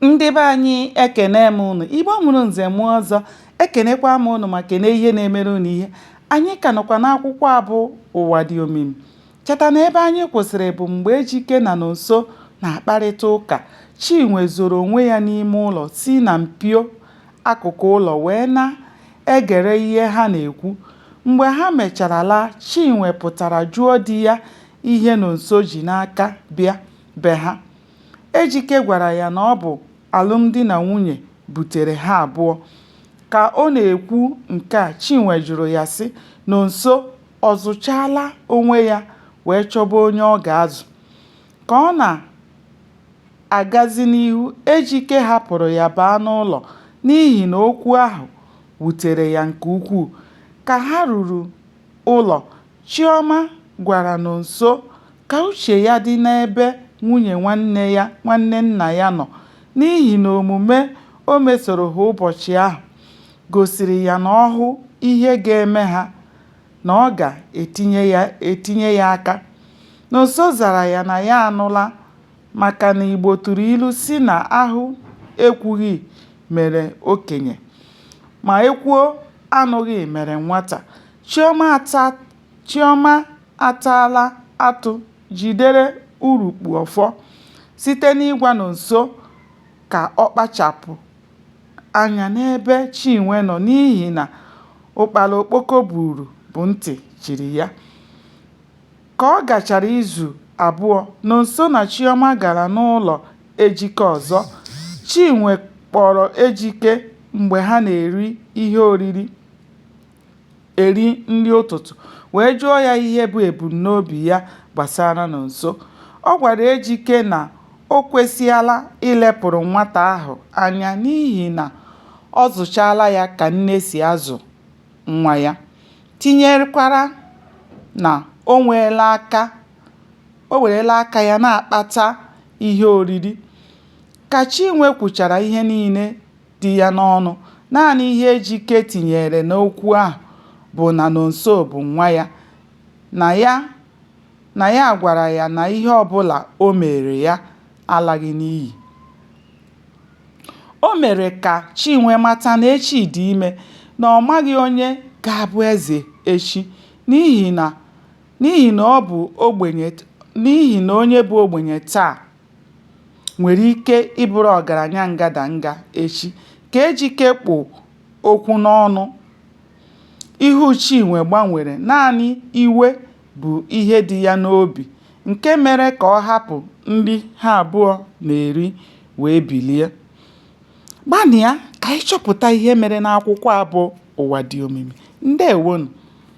ndị be anyị ekene m ụnụ igbo mụrụ nze mụọ ọzọ ekenekwa m ụnụ ma kene ihe na-emere ụnụ ihe anyị ka nọkwa n'akwụkwọ a bụ ụwa dị omimi cheta na ebe anyị kwụsịrị bụ mgbe ejike na nonso na-akparịta ụka chinwe zoro onwe ya n'ime ụlọ si na mpio akụkụ ụlọ wee na-egere ihe ha na-ekwu mgbe ha mechara laa chinwe pụtara jụọ di ya ihe nonso ji n'aka bịa be ha Ejike gwara ya na ọ bụ alụmdi na nwunye butere ha abụọ. Ka ọ na-ekwu nke a, Chinwe jụrụ ya sị, Nonso ọ zụchaala onwe ya wee chọba onye ọ ga-azụ? Ka ọ na-agazi n'ihu, Ejike hapụrụ ya baa n'ụlọ n'ihi na okwu ahụ wutere ya nke ukwuu. Ka ha ruru ụlọ, Chioma gwara Nonso ka uche ya dị n'ebe nwunye nwanne nna ya nọ n'ihi na omume o mesoro ha ụbọchị ahụ gosiri ya na ọ hụ ihe ga-eme ha na ọ ga-etinye ya aka. Nonso zara ya na ya anụla maka na Igbo tụrụ ilu sị na ahụ ekwughị mere okenye ma ekwuo anụghị mere nwata. Chioma ataala atụ jidere urukpu ọfọ site n'ịgwa Nonso ka ọ kpachapụ anya n'ebe Chinwe nọ n'ihi na ụkpara okpoko buru bụ ntị chiri ya. Ka ọ gachara izu abụọ, Nonso na Chioma gara n'ụlọ Ejike ọzọ. Chinwe kpọrọ Ejike mgbe ha na-eri ihe oriri. eri nri ụtụtụ wee jụọ ya ihe bụ ebumnobi ya gbasara Nonso. Ọ gwara Ejike na o kwesịala ilepụrụ nwata ahụ anya n'ihi na ọ zụchaala ya ka nne si azụ nwa ya, tinyekwara na o werela aka ya na-akpata ihe oriri. Ka Chinwe kwuchara ihe niile dị ya n'ọnụ. Naanị ihe Ejike tinyere n'okwu ahụ bụ na Nonso bụ nwa ya, na ya gwara ya na ihe ọbụla o meere ya alaghị n'iyi. O mere ka Chinwe mata na echi dị ime, na ọ maghị onye ga-abụ eze echi n'ihi na ọ bụ ogbenye n'ihi na onye bụ ogbenye taa nwere ike ịbụrụ ọgaranya ngadanga echi. Ka Ejike kpụ okwu n'ọnụ, ihu Chinwe gbanwere, naanị iwe bụ ihe dị ya n'obi nke mere ka ọ hapụ nri ha abụọ na-eri wee bilie. Gbanịa ka anyị chọpụta ihe mere n'akwụkwọ a bụ Ụwa Dị Omimi. Ndeewonụ.